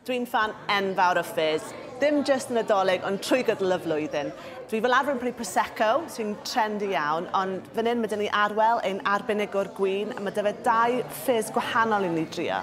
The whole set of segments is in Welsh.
Dwi'n ffan enfawr o Fizz, dim jyst y Nadolig ond trwy gydol y flwyddyn. Dwi fel arfer yn prynu Prosecco sy'n trendy iawn ond fan hyn mae 'da ni Arwel ein arbenigwr gwin a mae 'da fe dau Fizz gwahanol i ni drio.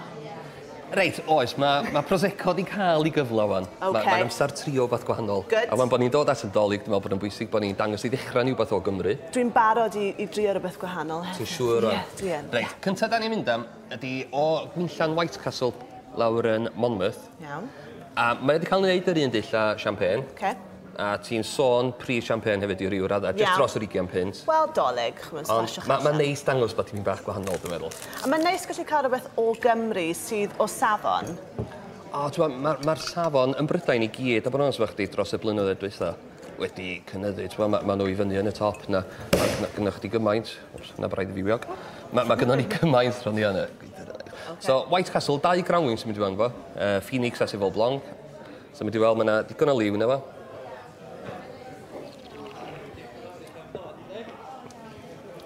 Reit, oes, ma' ma' Prosecco 'di ca'l 'i gyfle ŵan. Ocê. Ma' ma'n amsar trio wbath gwahanol. Good. A ŵan bo' ni'n dod at y Nadolig dwi me'wl bod o'n bwysig bo' ni'n dangos i ddechra ni wbath o Gymru. Dwi'n barod i i drio rwbeth gwahanol hefyd. Ti'n siŵr ŵan? Ie, dwi yn. Reit, cynta' 'dan ni'n mynd am ydi o Gwmllan Whitecastle lawr yn Monmouth. Iawn. A mae o 'di ca'l 'neud yr un dull â champagne. Oce. A ti'n sôn prif champagne hefyd i ryw radde... Iawn. ...jyst dros yr ugian punt. Wel 'Dolig ch'mod smasho chi allan. Ond ma' ma'n neis dangos bod tipyn bach gwahanol dwi meddwl. A ma'n neis gallu ca'l rwbeth o Gymru sydd o safon. O t'mo' ma' ma'r safon yn Brydain i gyd a bo' yn onest efo chdi dros y blynyddoedd dwytha. wedi cynyddu. T'mo' ma' ma' n'w i fyny yn y top 'na a ma' gynnoch chdi gymaint o's 'na braidd i fi wiog. Ma' ma' gynnon ni cymaint rhwng ni a n'w. So White Castle dau granwyn sy'n mynd i fewn fo. Yy Phoenix a Sauvor Blanc. So mynd i weld ma' 'na digon o liw yno fo.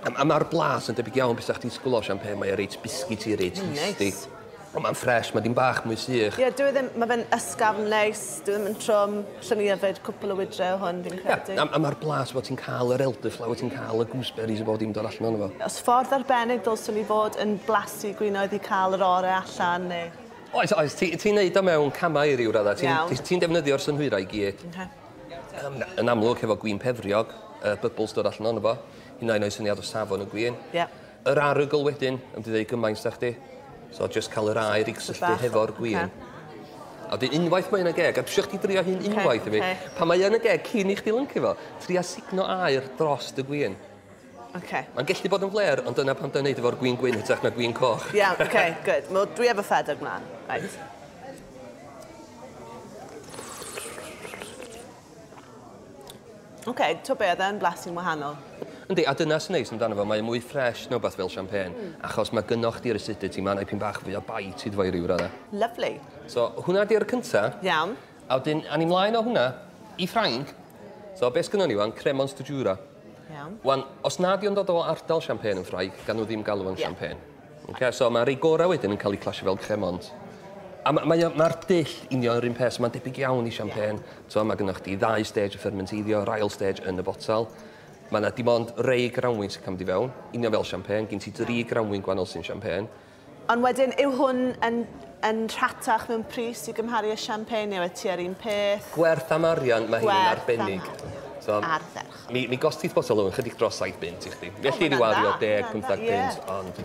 A ma' ma'r blas yn debyg iawn be' sa chdi'n disgwl o champagne mae o reit biscuity reit tasty. Neis. Ond mae'n ffres, mae dipyn bach mwy sych. Ie, dyw e ddim, mae fe'n ysgafn neis, dyw e ddim yn trwm. Allwn i yfed cwpl o wydre o hwn, fi'n credu. Ie, a, a mae'r blas fel ti'n cael yr elderflower, ti'n cael y gooseberries a bob dim dod allan ohono fo. Os ffordd arbennig ddylswn i fod yn blasu gwinoedd i cael yr ore allan, neu? Oes, oes, ti, ti'n neud o mewn camau i ryw raddau. Ti'n, Iawn. ti'n defnyddio'r synhwyrau i gyd. Oce. Yym, yn amlwg, hefo gwin pefriog, y bubbles dod allan ohono fo, hyd yn oed rhoi syniad o safon y gwin. Ie. Yr arogl wedyn, yn mynd i ddeud gymaint da chdi. So just cael yr aer i gysylltu hefo'r gwin. A wedyn unwaith mae yn y geg, a dwi isio chdi drio hyn unwaith i mi. Pan mae yn y geg cyn i chdi lyncu fo, tria sugno aer dros dy gwin. Oce. Mae'n gallu bod yn flêr, ond dyna pam da ni'n neud efo'r gwin gwyn hytrach na gwin coch. Iawn, oce, good. Wel, dwi efo ffedog mlaen. Reit. Oce, okay, to be, oedd e'n blasu'n wahanol. Yndi, a dyna sy'n neis amdano fo, mae mwy ffres na wbeth fel champagne, mm. achos mae gynnoch chdi'r acidity, mae'n aipyn bach fwy o bite iddo fo i ryw raddau. Lovely. So, hwnna di'r cynta. Iawn. A wedyn, a ni'n mlaen o hwnna i Ffrainc. So, beth sgynnon ni wan? Cremant de Jura. Iawn. Wan, os nad yw'n dod o ardal champagne yn Ffrainc, gan nhw ddim galw yn yeah. champagne. Ok so ma rei gora wedyn yn ca'l eu clasio fel cremant. A ma mae o ma'r dull union yr un peth so ma'n debyg iawn i champagne t'mo' ma' gynnoch chdi ddau stage o ffyrmenteiddio yr ail stage yn y botel. Ma' 'na dim ond rei granwyn sy'n ca'l mynd i fewn, union fel champagne gin ti dri granwyn gwanol sy'n champagne. Ond wedyn yw hwn yn yn rhatach mewn pris i gymharu â champagne neu oedd tua'r un peth? Gwerth am arian ma' hyn yn arbennig. Gwerth am arian. T'mo'? Arfer. Mi, mi gostith botel o'n chydig dros saith bunt i chdi. Felly oh, rhyw ario deg, pymthag punt, ond...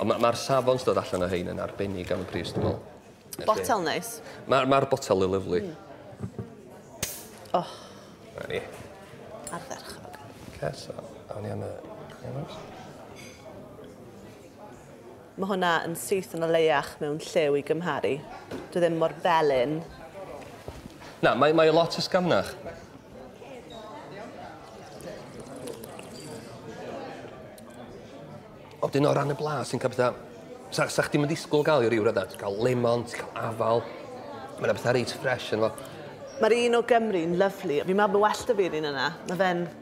Ond mae'r ma safon sydd allan o hyn yn arbennig am y pris, dwi'n meddwl. Botel neis. Mae'r ma botel yn lyflu. Mm. Oh. Na ni. Ardderchog. Ces, awn ni am y... Mae hwnna yn syth yn o leiach mewn lliw i gymharu. Dwi ddim mor felyn. Na, mae, mae o lot ysgafnach. Ond dyn o ran y blas sy'n cael bethau... Sa, sa chdi'n mynd disgwyl gael i ryw radda. Ti'n cael lemon, ti'n cael afal. Mae yna bethau reit ffres yn fo. Mae'r un o Gymru'n lyflu. Fi'n meddwl bod well da fi'r un yna. Mae fe'n